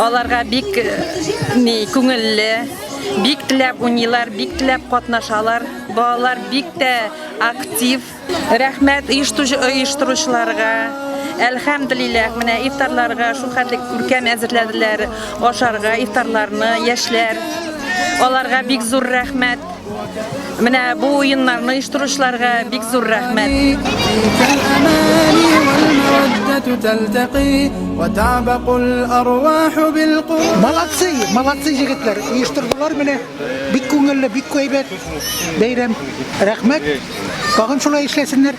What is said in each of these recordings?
Аларга бик ни күңелле, бик теләп уйныйлар, бик теләп катнашалар. Балалар бик тә актив. Рәхмәт оештыручыларга. Әлхәмдулиллах, менә ифтарларга шул хәтле күркәм әзерләделәр ашарга ифтарларны яшьләр. Аларга бик зур рәхмәт. Менә бу уеннарны оештыручыларга бик зур рәхмәт. Молодцы, молодцы җегетләр, оештырдылар менә. Бик күңелле, бик әйбәт бәйрәм. Рәхмәт. Тагын шулай эшләсеннәр.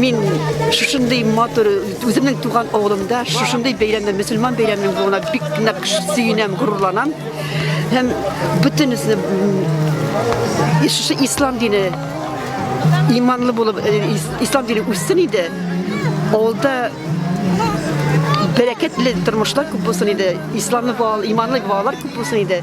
Мин шушындый матур, үземнең туган авылымда шушындый бәйрәмдә, мөселман бәйрәменең булуына бик нык сөенәм, горурланам. Һәм бөтенесе шушы ислам дине иманлы булып, э, ислам дине үссен иде. Авылда бәрәкәтле тормышлар күп булсын иде. Исламлы балалар, иманлы балалар күп булсын иде.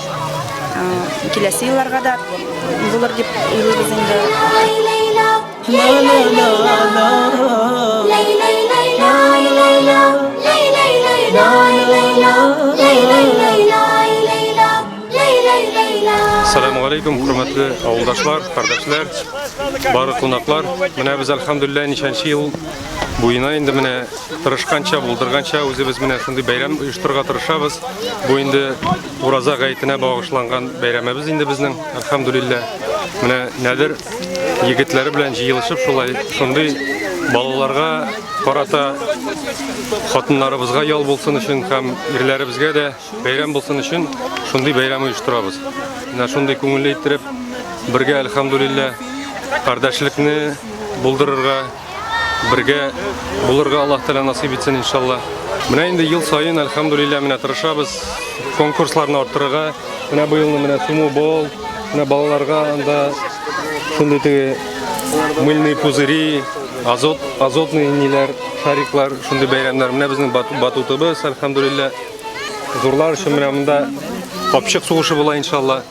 Киләсе елларга да булыр дип уйлыйбыз инде. Ассаламу алейкум, хөрмәтле авылдашлар, кардәшләр, бары кунаклар. Менә без альхамдулилла ничәнче ел буена инде менә тырышканча, булдырганча үзебез менә шундый бәйрәм оештырырга тырышабыз. Бу инде Ураза гаетенә багышланган бәйрәмебез инде безнең, әлхәмдүлилләһ. Менә нәдер егетләре белән җыелышып шулай шундый балаларга карата хатыннарыбызга ял булсын өчен һәм ирләребезгә дә бәйрәм булсын өчен шундый бәйрәм оештырабыз. Менә шундый күңелле иттереп бергә әлхәмдүлилләһ кардәшлекне булдырырга бергә булырга Аллаһ Тәгалә насыйп итсен иншалла. Менә инде ел саен альхамдулилля менә тырышабыз конкурсларны арттырырга. Менә быелны менә суму бол, менә балаларга анда шундый теге мыльный пузыри, азот, азотный ниләр, шариклар, шундый бәйрәмнәр. Менә безнең батутыбыз альхамдулилля. Зурлар өчен менә монда капчык сугышы була иншалла.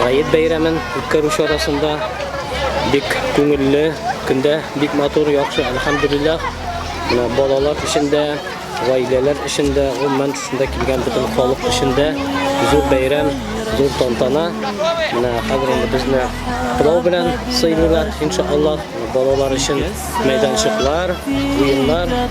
Гает бәйрәмен үткәрү чарасында бик күңелле, көндә бик матур, яхшы, әлхәмдулиллах. Менә балалар өчен дә, гаиләләр өчен дә, гомумән төсендә килгән бөтен халык өчен дә зур бәйрәм, зур тантана. Менә хәзер инде безне пылау белән сыйлыйлар, иншаллах. Балалар өчен мәйданчыклар, уеннар